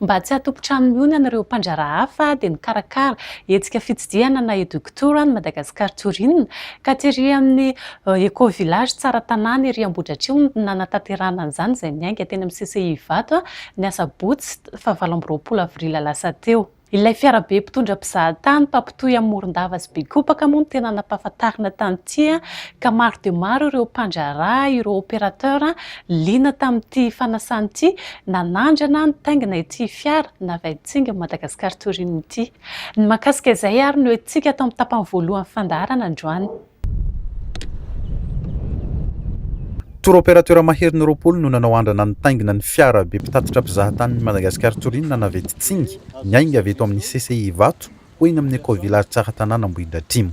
Mba tsy hatompon-trano mionana ireo mpandraharaha hafa dia nikarakara hetsika fitsidihana na Eductour ny Madagascar Tourin ka tery amin'ny Eco Village Tsara Tanàna ery Ambohidratrimo no nanatanterahana an'izany izay niainga teny amin'ny CCI Ivato ny asabotsy fahavalo amby roapolo avril lasa teo. Ilay fiarabe mpitondra mpizahatany mpampitohy amin'i Morondava sy Bekopaka moa no tena nampahafantarina tany ity ka maro dia maro ireo mpandraharaha, ireo opérateur, liana tamin'ity fanasana ity, nanandrana nitaingina ity fiara navain-tsinga Madagascar Tourim ity. Ny mahakasika izay ary no entintsika ato amin'ny tapany voalohany fandaharana androany. Tour opérateur maherin'ny roapolo no nanao andrana nitaingina ny fiara be mpitatitra mpizaha-tanin'ny Madagascar Touring nanavety Tsingy niainga avy eto amin'ny CCI Ivato ho eny amin'ny Eco-Village Tsaratanàna Ambohidratrimo.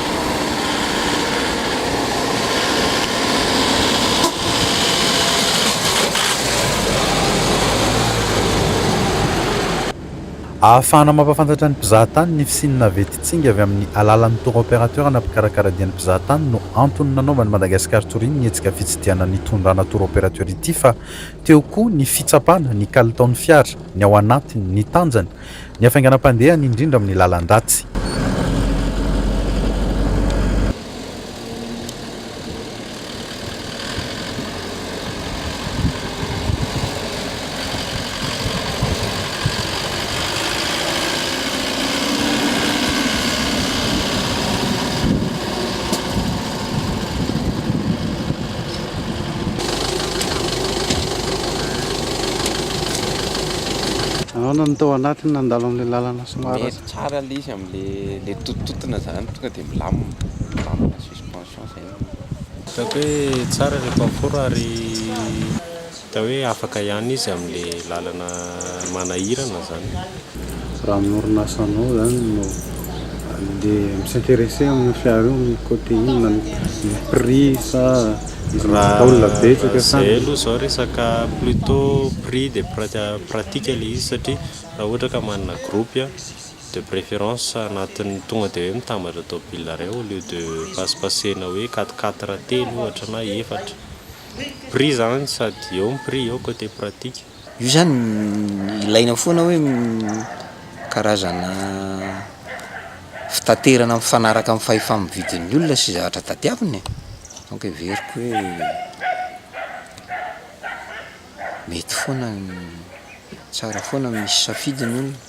Ahafahana mampahafantatra ny mpizaha tany ny fisian'ny navetin tsinga avy amin'ny alalan'ny tour opérateur na mpikarakara dian'ny mpizaha tany no antony nanaovan'i Madagascar Touring ny hetsika fitsidihana nitondrana tour opérateur ity fa teo koa ny fitsapana ny kalitaon'ny fiara, ny ao anatiny, ny tanjany, Ny hafainganam-pandehany indrindra amin'ny lalan-dratsy. Nahoana no tao anatiny nandalo amin'ilay lalana somary ratsy? Mety tsara ilay izy amin'ilay tontontotona izany, tonga dia milamina, milamina suspension izay no. Hitako hoe tsara ilay confort ary. Hita hoe afaka ihany izy amin'le lalana manahirana zany. Raha amin'ny orinasanao zany no le mi-s'interesser amin'io fiara io amin'ny côté inona? Ny prix sa izy mahavita olona betsaka sa. Raha zay aloha zao resaka plutôt prix de pratique le izy satria raha ohatra ka manana groupe a, de préférence anatin'ny tonga de hoe mitambatra tôbile ray au lieu de pasipaseana hoe quatre quatre telo ohatra na efatra. prix izany sady eo ny prix eo côté pratique. Io zany ilaina foana hoe karazana fitaterana mifanaraka amin'ny fahefa-mividin'ny olona sy zavatra tadiaviny e! donc heveriko hoe mety foana ny, tsara foana ny misy safidy ny olona.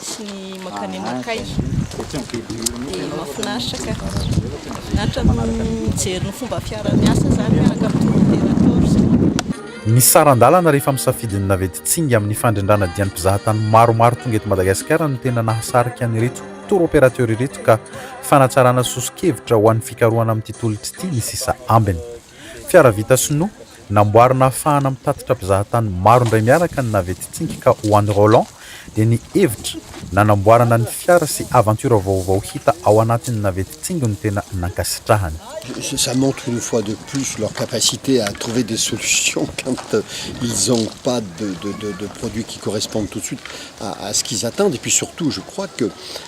sy ny makany amakay dia mahafinaritra ka natrany mijery ny fomba fiara miasa izany miaraka amin'ny tour-opérateur zao Ny saran-dalana rehefa misafidy ny navette tsingy amin'ny fandrindrana dian'ny mpizahatany maromaro tonga eto Madagasikara no tena nahasarika an'ireto tour-opérateur ireto ka fanatsarana soso-kevitra ho an'ny fikarohana amin'ity tolotra ity ny sisa ambiny. Fiara vita sinoa, namboarina hahafahana mitatitra mpizahatany maro indray miaraka ny navette Tsingika ho an'i Roland, dia ny hevitra nanamboarana ny fiara sy aventure vaovao hita ao anatin'ny navette Tsingy no tena nankasitrahany. Ça montre une fois de plus leur capacité à trouver des solutions quand ils ont pas de produits qui correspondent tout de suite à ce qu'ils attendent et puis surtout je crois que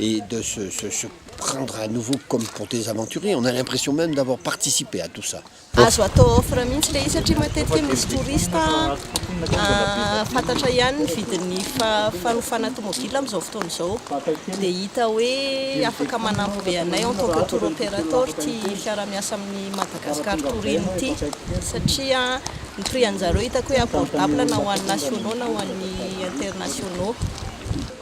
et de se se se prendre à nouveau comme pour des aventuriers, on a l'impression même d'avoir participé à tout ça. Azo atao offre mihitsy ilay izy satria matetika misy touriste fantatra ihany ny vidin'ny fanofana tomobila amin'izao fotoana izao dia hita hoe afaka manampy be anay en tant que tour operator ity fiarahamiasa amin'ny Madagascar Touring ity satria ny prix anjareo hitako hoe abordable na ho an'ny nationaux na ho an'ny internationaux.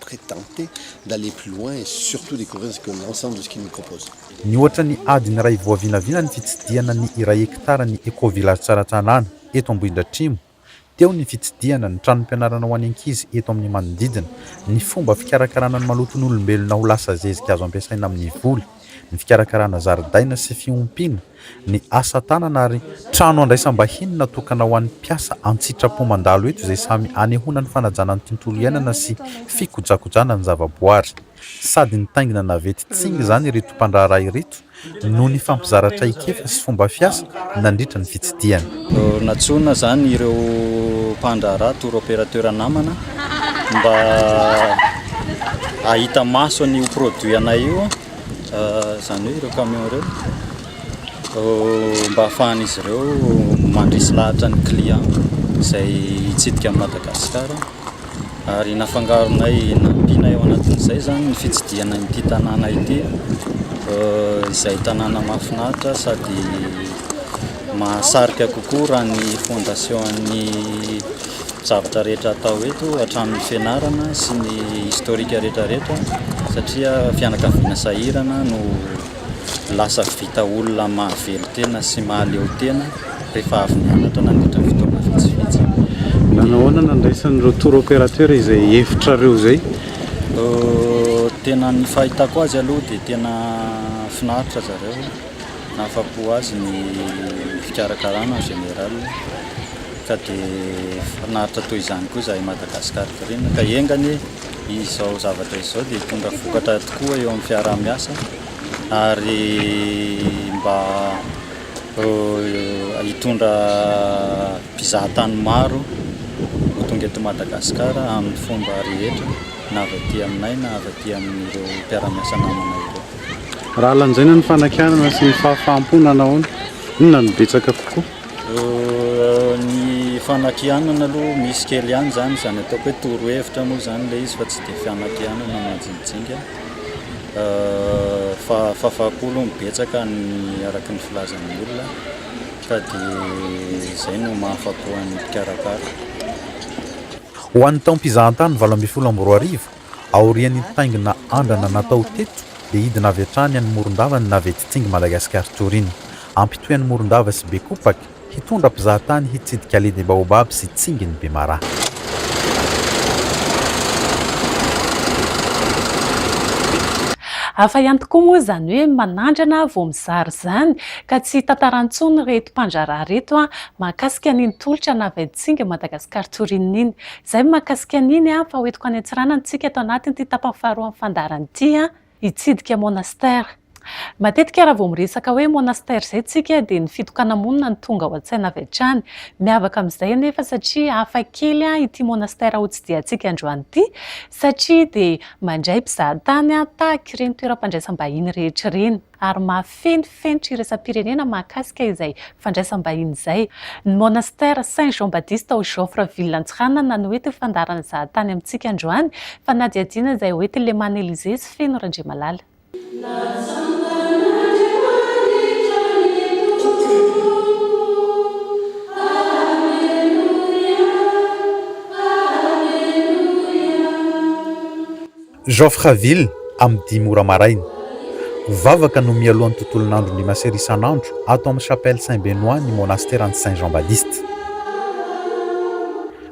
prétente d'aller plus loin et surtout découvrir ce que l'ensemble de ce qu'il nous propose. Nihoatra ny adiny iray voavinavina ny fitsidihana ny iray hekitara ny Eco-Village Tsaratanàna, eto Ambohidratrimo. Teo ny fitsidihana ny tranom-pianarana ho an'ny ankizy eto amin'ny manodidina, ny fomba fikarakarana ny maloton'olombelona ho lasa zezika azo ampiasaina amin'ny voly, ny fikarakarana zaridaina sy fiompiana, ny asa tanana ary trano handraisam-bahiny natokana ho an'ny mpiasa an-tsitrapo mandalo eto izay samy hanehoana ny fanajana ny tontolo iainana sy fikojakojana ny zavaboary. Sady nitaingina navety Tsing izany ireto mpandraharaha ireto no nifampizara traikefa sy fomba fiasa nandritra ny fitsidihana. Nantsoina izany ireo mpandraharaha, tour opérateur namana mba hahita maso an'io produit anay io. izany hoe ireo camion ireo mba ahafahan'izy ireo mandresy lahatra ny client izay hitsidika an'i Madagasikara ary nafangaronay nampianay ao anatin'izay izany ny fitsidihana ity tanàna ity izay tanàna mahafinaritra sady mahasarika kokoa raha ny fondation-n'ny zavatra rehetra atao eto hatramin'ny fianarana sy ny historique rehetra rehetra satria fianakaviana sahirana no lasa vita olona mahavelon-tena sy mahaleotena rehefa avy nianatra nandritra ny fotoana vitsivitsy. Nanao ahoana nandraisan'ireo tour opérateur izay hevitrareo izay? Tena ny fahitako azy aloha dia tena finaritra zareo, nahafapo azy ny fikarakarana en général. Ka dia finaritra toy izany koa izahay Madagascar Green ka enga anie izao zavatra izao dia hitondra vokatra tokoa eo amin'ny fiaraha-miasa ary mba hitondra mpizaha tany maro ho tonga eto Madagascar amin'ny fomba rehetra na avy aty aminay na avy aty amin'ireo mpiara-miasa namanay ireo. Raha lanjaina ny fanakianana sy ny fahafaham-po na nahoana, inona no betsaka kokoa? Ny fanakianana aloha misy kely ihany izany, izany ataoko hoe torohevitra moa izany ilay izy fa tsy dia fanakianana majinijinika, fa fafako aloha no betsaka araka ny filazan'ny olona fa dia izay no maha afako an'ny mpikarakara. Ho an'ny taom-pizahantany valo ambin'ny folo amby roa arivo, Aorian'ny nitaingina andrana natao teto dia hidina avy hatrany any Morondava ny navety Tsingy Madagascar Touring. Hampitohy an'i Morondava sy Bekopak, hitondra mpizahatany hitsidika Allée des Baobabs sy Tsingin'i Bemaraha. Hafa ihany tokoa moa izany hoe manandrana vao mizara izany ka tsy tantara intsony ireto mpandraharaha ireto mahakasika an'iny tolotra navety Tsingy Madagascar Touring iny. Zay mahakasika an'iny an, fa hoentiko any Antsiranana tsika ato anatiny ity tapany faharoa amin'ny fandaharana ity an, hitsidika monastère. Matetika raha vao miresaka hoe monastère zay tsika dia ny fitokana-monina no tonga ao an-tsaina avy hatrany. Miavaka amin'izay anefa satria hafa kely an ity monastère ho tsidihantsika androany ity satria dia mandray mpizahatany an tahaka ireny toeram-pandraisam-bahiny rehetra ireny. ary mahafeno fenitra iraisam-pirenena mahakasika izay fandraisam-bahiny izay. Ny Monastère Saint Jean Baptiste ao Joffre ville Antsiranana no ety fandaharan'ny zahatany amintsika androany, fanadihadiana izay ao ety Leman Elysée sy Feno Randriamalala. Joffreville amin'ny dimy ora maraina. Vavaka no mialoha ny tontolon'andron'ny Masera isan'andro ato amin'ny Chapelle Saint Benoit ny monasteran'i Saint Jean Baptiste.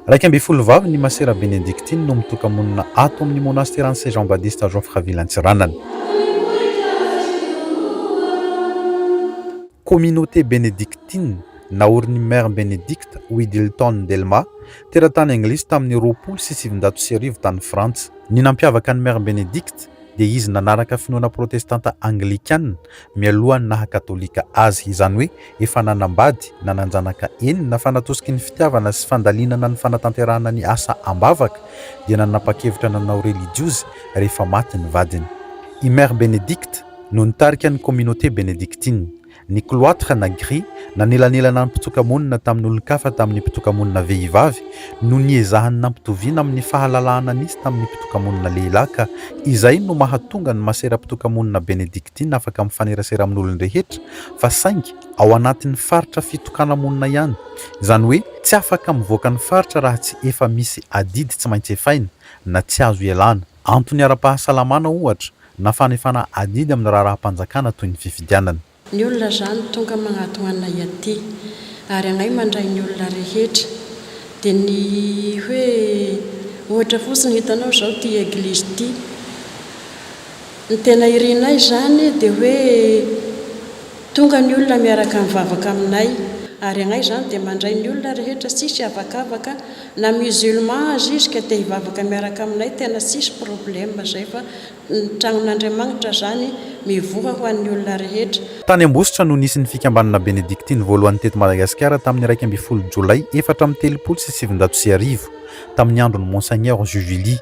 Iraika ambin'ny folo vavy ny Masera Benedictine no mitoka-monina ato amin'ny monasteran'i Saint Jean Baptiste Joffreville Antsiranana. Communauté Benedictine naorin'i Mère Benedicte Widdilton Delma Teratany anglisy tamin'ny roapolo sy sivinjato sy arivo tany Frantsa. Ny nampiavaka an'i Mère Bénédicte dia izy nanaraka finoana protestanta anglikana mialohan'ny naha-katolika azy, izany hoe efa nanambady, nanan-janaka enina fa natosiky ny fitiavana sy fandalinana ny fanatanterahana ny asa am-bavaka dia nanapa-kevitra nanao relijiozy rehefa maty ny vadiny. I Mère Bénédicte no nitarika ny Communauté Bénédictine. ny cloître na grille nanelanelana ny mpitsoka-monina tamin'olon-kafa tamin'ny mpitsoka-monina vehivavy no niezahany nampitoviana amin'ny fahalalahana nisy tamin'ny mpitsoka-monina lehilahy ka izay no mahatonga ny masera mpitsoka-monina benedictine afaka mifanerasera amin'olon-drehetra fa saingy ao anatin'ny faritra fitokana-monina ihany izany hoe tsy afaka mivoaka ny faritra raha tsy efa misy adidy tsy maintsy efaina na tsy azo ialana. Antony ara-pahasalamana, ohatra, na fanefana adidy amin'ny raharaham-panjakana toy ny fifidianana. Ny olona zany tonga magnatogna anay aty ary agnay mandray ny olona rehetra de ny hoe ohatra fotsiny hitanao zao ty eglizy ty ny tena irinay zany de hoe tonga ny olona miaraka mivavaka aminay ary agnay zany de mandray ny olona rehetra tsisy avakavaka Na musulman aza izy ka te hivavaka miaraka aminay tena tsisy problème zay fa ny tragnon'Andriamagnitra zany mivoha ho an'ny olona rehetra. Tany Ambositra no nisy ny fikambanana Benedictine voalohany teto Madagasikara tamin'ny iraika ambin'ny folo Jolay efatra amby telopolo sy sivinjato sy arivo, tamin'ny andron'i Monseigneur Juvilly.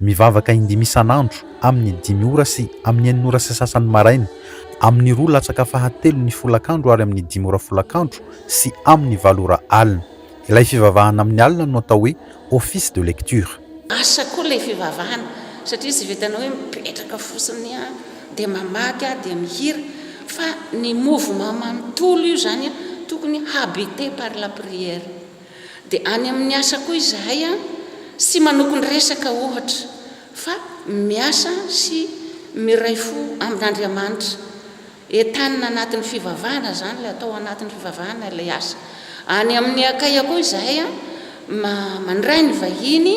Mivavaka indimy isan'andro, amin'ny dimy ora sy amin'ny enina ora sy sasany maraina, amin'ny roa latsaka fahatelon'ny folakandro ary amin'ny dimy ora folakandro sy amin'ny valo ora alina. Ilay fivavahana amin'ny alina no atao hoe Office de lecture. Asa koa ilay fivavahana satria tsy vitanao hoe mipetraka fotsiny dia mamaky dia mihira fa ny mouvement manontolo io izany tokony habité par la prière. Dia any amin'ny asa koa izahay an, tsy manokon-dresaka ohatra, fa miasa sy miray fo amin'Andriamanitra. Entanina anatin'ny fivavahana izany ilay atao anatin'ny fivavahana ilay asa. Any amin'ny Akaia koa izahay an, mandray ny vahiny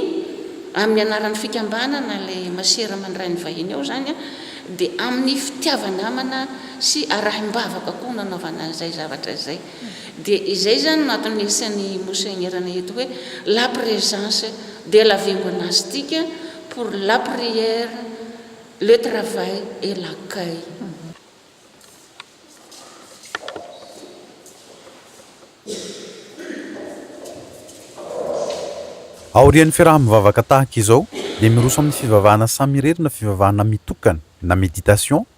amin'ny anaran'ny fikambanana, ilay masera mandray ny vahiny ao izany an, dia amin'ny fitiava-namana sy arahim-bavaka koa no anaovana izay zavatra izay. Dia izay izany no antony nirisihan'i Monseigneur ny eto hoe la présence de la vie monastique pour la prière, le travail et l'accueil. Aorian'ny fiaraha-mivavaka tahaka izao dia miroso amin'ny fivavahana samirery na fivavahana mitokana na méditation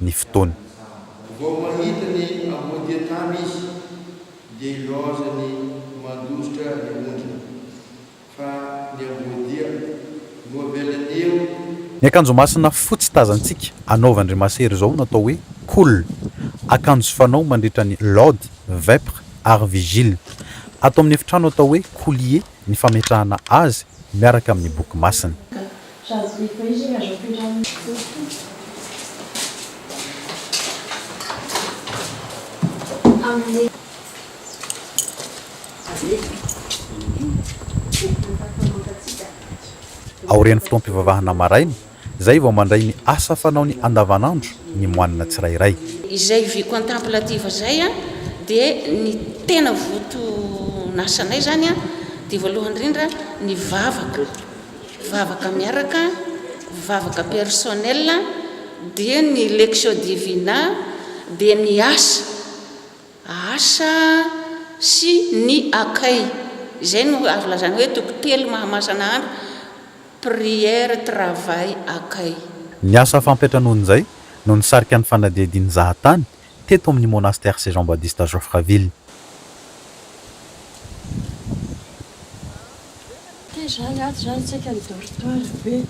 ny fotoana. Vao mahita ny amboadian-tany izy dia hilaoza ny mandositra ny ondriny, fa ny amboadia no avelany eo. Ny akanjo masina fotsy tazantsika anaovan-dry masera izao no atao hoe Kul, akanjo fanao mandritra ny Lod, Vepr ary Vigil. Ato amin'ny efitrano atao hoe Kulier ny fametrahana azy miaraka amin'ny boky masina. Aorian'ny fotoam-pivavahana maraina, Izay vao mandray ny asa fanaony andavanandro ny moanina tsirairay. Izay vie contemplative izay an, dia ny tena voton'asanay izany an, dia voalohany indrindra ny vavaka, vavaka miaraka, vavaka personnel, dia ny lectio divina, dia ny asa. Asa sy ny akay. Izay no azo lazaina hoe toko telo mahamasana andro, prière, travail, akay. Ny asa fampiantranoan'izay no nisarika ny fanadihadian'ny zahatany teto amin'ny Monastère Saint Jean Badiste à Joffreville. Ty zany ato zany tsika ny dortoir be.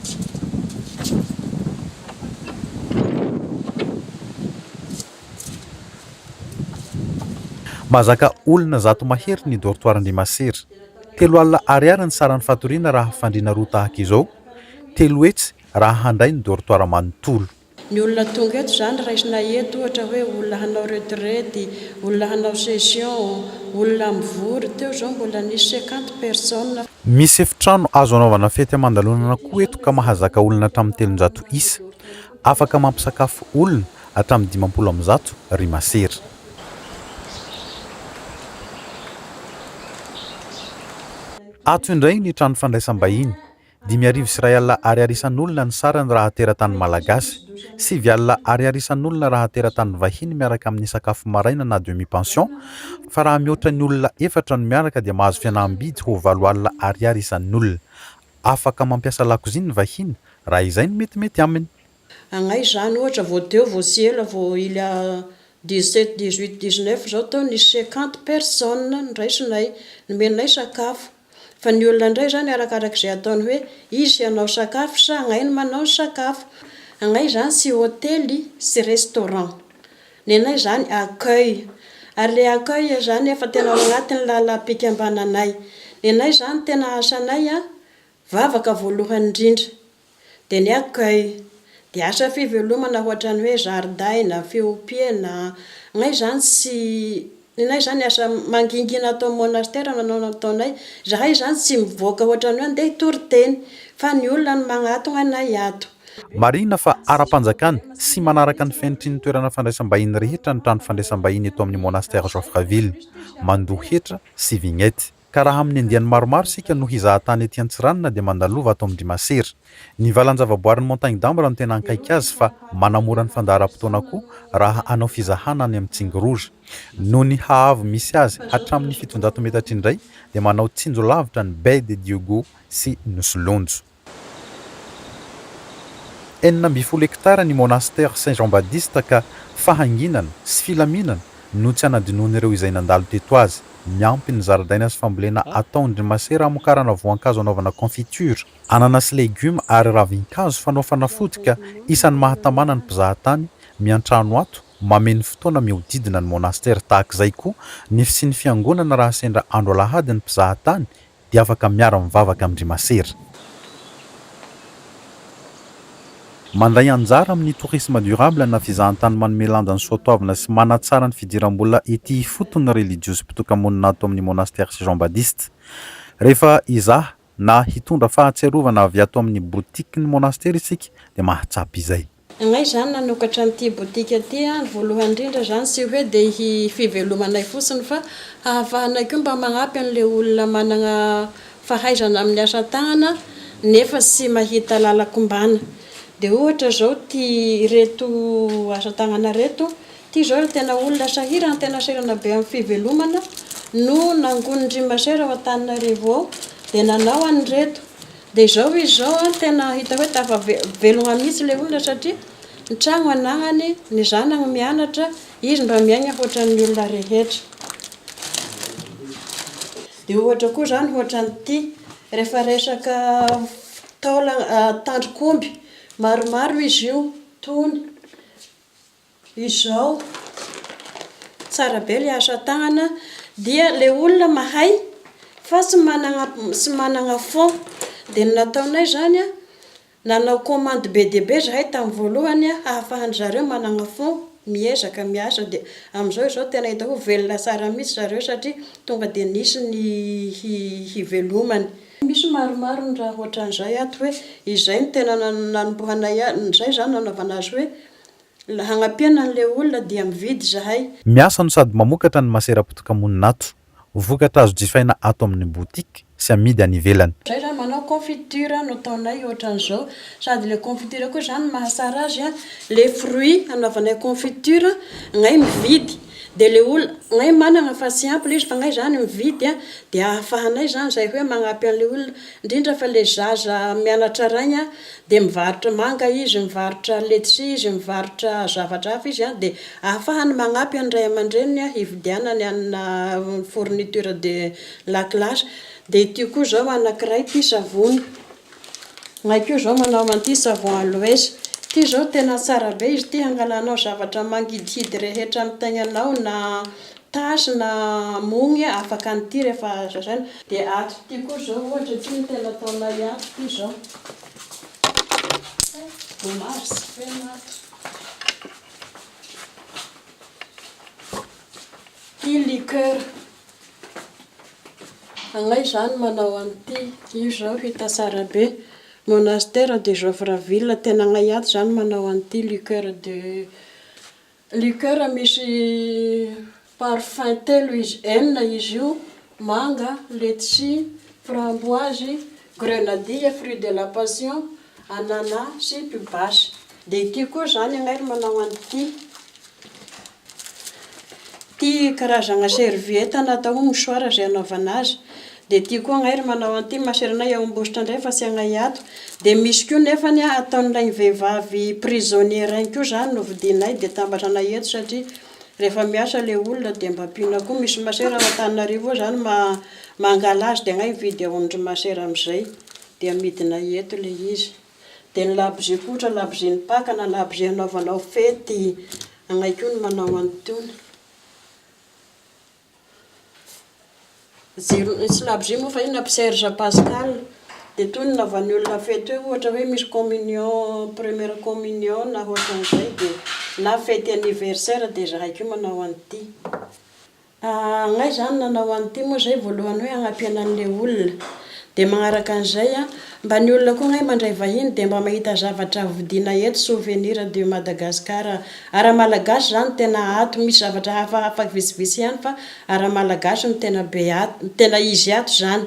Mahazaka olona zato mahery ny dortoir Andriamasera. Telo alina ariary ny saran'ny fatoriana raha fandriana roa tahaka izao, telo hetsy raha handray ny dortoir manontolo. Ny olona tonga eto, izany raisina eto ohatra hoe olona hanao retraite, olona hanao session, olona mivory, teo izao mbola nisy cinquante personnes. Misy efitrano azo anaovana fety aman-dalonana koa eto ka mahazaka olona hatramin'ny telonjato isa. Afaka mampisakafo olona hatramin'ny dimampolo amby zato ry masera. Ato indray ny trano fandraisam-bahiny. Dimy arivo sy iray alina Ariary isan'olona ny sarany raha teratany malagasy. Sivy alina Ariary isan'olona raha teratany vahiny miaraka amin'ny sakafo maraina na demi pension fa raha mihoatra ny olona efatra no miaraka dia mahazo fianaham-bidy ho valo alina Ariary isan'olona. afaka mampiasa lakozia ny vahiny raha izay no metimety aminy. Agnay izany ohatra vao teo vao tsy ela vao il y a dix sept, dix huit, dix neuf zao teo nisy cinquante personnes noraisinay, nomenay sakafo. Fa ny olona indray izany arakarak'izay ataony hoe izy hanao sakafo sa agnay no manao ny sakafo. Agnay izany tsy hotely, tsy restaurant. Ny anay izany accueil. Ary ilay accueil izany efa tena ao anatin'ny lalam-pikambananay. Ny anay izany tena asanay an, vavaka voalohany indrindra. Dia ny accueil. Dia asa fivelomana ohatran'ny hoe zaridaina, fiompiana, anay izany tsy Nenay izany asa mangingina ato amin'ny monastera no nanao nataonay. Izahay izany tsy mivoaka ohatran'ny hoe handeha hitory teny, fa ny olona no magnatogna anay ato. Marihina fa ara-panjakana sy manaraka ny fenitry ny toerana fandraisam-bahiny rehetra ny trano fandraisam-bahiny eto amin'ny monastera Joffreville. Mandoa hetra sy vignette. Ka raha amin'ny andiany maromaro isika no hizaha tany ety Antsiranana dia mandalova ato amin'ny Rimasera. Ny valan-javaboarin'ny Montagne d'Ambre no tena hankaiky azy fa manamora ny fandaharam-potoana koa raha hanao fizahana any amin'ny Tsingorora. Noho ny haavo misy azy hatramin'ny fitonjato metatra indray dia manao tsinjo lavitra ny Baie de Dieugo sy Nosilonjo. Enina ambin'ny folo hektara ny Monastère Saint Jean Badiste ka fahanginana sy filaminana no tsy hanadinoan'ireo izay nandalo teto azy. Miampy ny zaridaina sy fambolena ataon-dry masera hamokarana voankazo hanaovana confiture, anana sy legioma ary ravin-kazo fanao fanafody ka isan'ny mahatamana ny mpizaha tany miantrano ato mameno fotoana mihodidina ny Monastère. Tahak'izay koa ny fisian'ny fiangonana raha sendra andro alahady ny mpizaha tany dia afaka miara mivavaka amin-dry masera. Mandray anjara amin'ny tourisme durable na fizahantany manome lanja ny soatoavina sy manatsara ny fidiram-bola ety ifotony ny relijiozy mpitoka-monina ato amin'ny Monastère sy Jean Badiste. Rehefa hizaha na hitondra fahatsiarovana avy ato amin'ny botikin'ny Monastera isika dia mahatsapa izay. Angaha izany nanokatra an'ity botika ity aho ny voalohany indrindra izany tsy hoe dia hi fivelomanay fotsiny fa hahafahanay koa mba magnampy an'ilay olona managna fahaizana amin'ny asa tagnana nefa tsy mahita lalan-kombana. Dia ohatra izao ity ireto asa tagnana ireto, ity izao ilay tena olona sahirana tena sahirana be amin'ny fivelomana no nangonin-dry masera ao Antananarivo ao dia nanao an'ireto. Dia izao izy izao an, tena hita hoe tafavelona mihitsy ilay olona satria ny trano anagnany, ny zanany mianatra, izy mba miaigna hoatran'ny olona rehetra. Dia ohatra koa izany hoatran'ity, rehefa resaka taolana, tandrok'omby, maromaro izy io, tony. Izao. Tsara be le asa tagnana dia le olona mahay fa tsy managna tsy managna fond de ny nataonay zany a nanao commande be dia be zahay tamin'ny voalohany a hahafahan'ny zareo managna fond miezaka miasa de amizao izao tena hita hoe velona tsara mitsy zareo satria tonga de nisy ny hi hivelomany. Misy maromaro ny raha otran'izay ato hoe izay no tena nanombohanay a zay zany nanaovana azy hoe La hagnampiana an'ilay olona dia mividy izahay. Miasa no sady mamokatra ny masera potokamonina ato. Vokatra azo jifaina ato amin'ny boutique sy amidy any ivelany. Zay zany manao confiture no ataonay ohatran'izao. Sady ilay confiture koa zany ny mahatsara azy an, ilay fruit anaovanay confiture gnay mividy dia ilay olona gnay manana fa tsy ampy ilay izy fa gnay zany mividy dia ahafahanay zany zay hoe magnampy an'ilay olona Indrindra fa le zaza mianatra rainy an de mivarotra manga izy, mivarotra letchi izy, mivarotra zavatra hafa izy an de ahafahany magnampy an'ny ray aman-dreniny an hividianany anna fourniture de la classe. De ity koa zao anakiray tia savony, nay koa zao manao an'ity savon aloes ity zao tena tsara be izy ity hangalanao zavatra mangidihidy rehetra amin'ny taignanao na Tâche na amogny afaka an'ity rehefa azo lazaina. Dia ato ity koa izao ohatra ity no tena ataonay ato ity izao. Dommage tsy feno ato. Ity liqueur. Agnay izany manao an'ity. Io izao hita tsara be. Monastère de Joffre-Ville. Tena agnay ato izany manao an'ity liqueur de. Liqueur misy parfum telo izy, enina izy io, manga, letchi, framboise, grenadille, fruit de la passion, anana sy pibasy. Dia ity koa izany anay ry manao an ity. Ity karazagna serviette na atao hoe mouchoir izay anaovana azy. Dia tia koa angahy ry manao an'ity maseranay ao Ambositra indray fa tsy anay ato. Dia misy koa nefany ataon'ilay vehivavy prisonnier any koa izany no vidianay dia atambatra anay eto satria rehefa miasa ilay olona dia mba ampiana koa. Misy masera ao Antananarivo ao izany mangala azy dia angahy mividy ao amin-dry masera amin'izay dia amidinay eto ilay izy. Dia ny labozia koa ohatra labozia ny Paka na labozia anaovanao fety anay koa ny manao an'itony. Ny syllabge moa fa inona Mpy Serge Pascal dia toy ny nanaovan'ny olona fety hoe ohatra hoe misy communion première communion na ohatran'izay dia na fety anniversaire dia izahay koa manao an'ity angaha izaho no nanao an'ity moa izay voalohany hoe hanampiana an'ilay olona dia manaraka an'izay an mba ny olona koa angaha mandray vahiny dia mba mahita zavatra hovodiana eto souvenir de Madagascar Ara malagasy zany tena ato misy zavatra hafa hafa vitsivitsy ihany fa ara malagasy no tena be ato no tena izy ato zany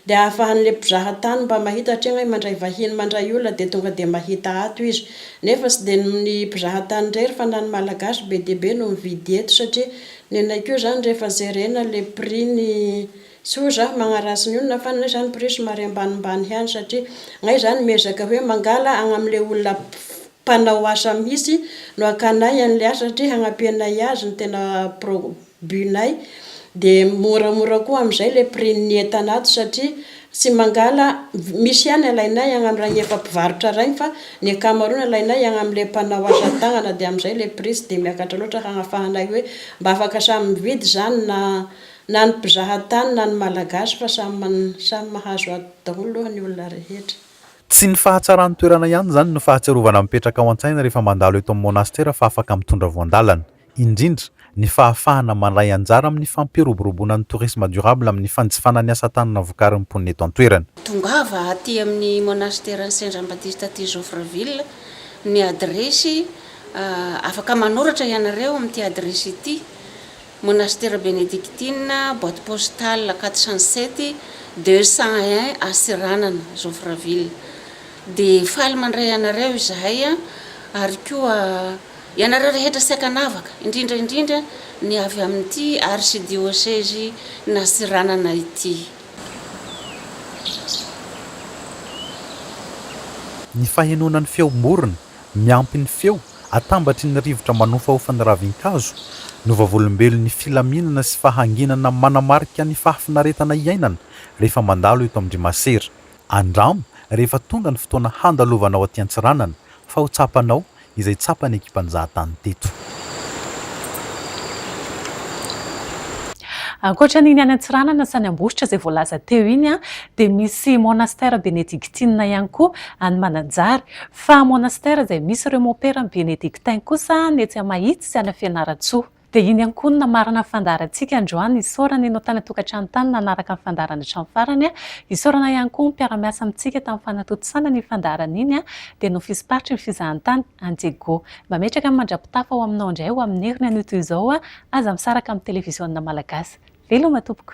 de ahafahanle mpizaha tany mba mahita hatria ngay mandray vahiny mandray olona de tonga de mahita ato izy nefa tsy de ny mpizaha tany rery fa na ny malagasy be dia be no mividy eto satria nenay koa zany rehefa jerena le prix ny tsy oa za magnaratsy ny olona fa nenay zany prix somary ambanimbany ihany satria ngay zany miezaka hoe mangala agnamle olona mpanao asa mihitsy no hakanay an'ilay asa satria hagnampianay azy no tena pro but-nay dia moramora koa amin'izay ilay prix-n'ny entana ato satria tsy mangala misy ihany alainay agny amin'ilay efa mpivarotra rainy fa ny ankamaroany alainay agny amin'ilay mpanao asa tagnana dia amin'izay ilay prix tsy dia miakatra loatra hagnafahanay hoe mba afaka samy mividy izany na na ny mpizaha tany na ny malagasy fa samy samy mahazo ato daholo aloha ny olona rehetra. Tsy ny fahatsaran'ny toerana ihany izany no fahatsiarovana mipetraka ao an-tsaina rehefa mandalo eto amin'ny monasitera fa afaka mitondra voan-dalana, indrindra, ny fahafahana mandray anjara amin'ny fampiroboroboana ny tourisme durable amin'ny fanjifana ny asa tanana vokarin'ny mponina eto an-toerana. Tongava aty amin'ny monasiteran'i Saint Jean Baptiste aty Joffreville ny adiresy, afaka manoratra ianareo amin'ity adiresy ity Monastera Benediktina, boite postale 407, deux cent un Antsiranana, Joffreville. Dia faly mandray anareo izahay ary koa ianareo rehetra saika anavaka, indrindra indrindra ny avy amin'ity Arsidiosezy n'Antsiranana ity. Ny fahenoana ny feom-borona Miampy ny feo atambatry ny rivotra manofahofa ny ravin-kazo, ny vavolombelon'ny filaminana sy fahanginana manamarika ny fahafinaretana iainana rehefa mandalo eto amin-dry masera. Andramo rehefa tonga ny fotoana handalovanao aty Antsiranana fa ho tsapanao izay tsapan'ny ekipam-jahatany teto. Ankoatra an'iny any Antsiranana sy any Ambositra izay voalaza teo iny dia misy monastera benediktinina ihany koa any Mananjary. Fa à monastère izay misy ireo mompera benedictin kosa ny etsy Amahitsy sy any Fianarantsoa. Dia iny ankonona marina ny fandaharantsika androany, isaorana ianao tany an-tokantrano tany nanaraka ny fandaharana hatramin'ny farany, isaorana ihany koa ny mpiara-miasa amintsika tamin'ny fanatontosana an'iny fandaharana iny, dia ny ofisimparitry ny fizahantany, any Diego. Mametraka ny mandrapitafa ho aminao indray ho amin'ny heriny anio toy izao, aza misaraka amin'ny televiziona malagasy. Veloma tompoko.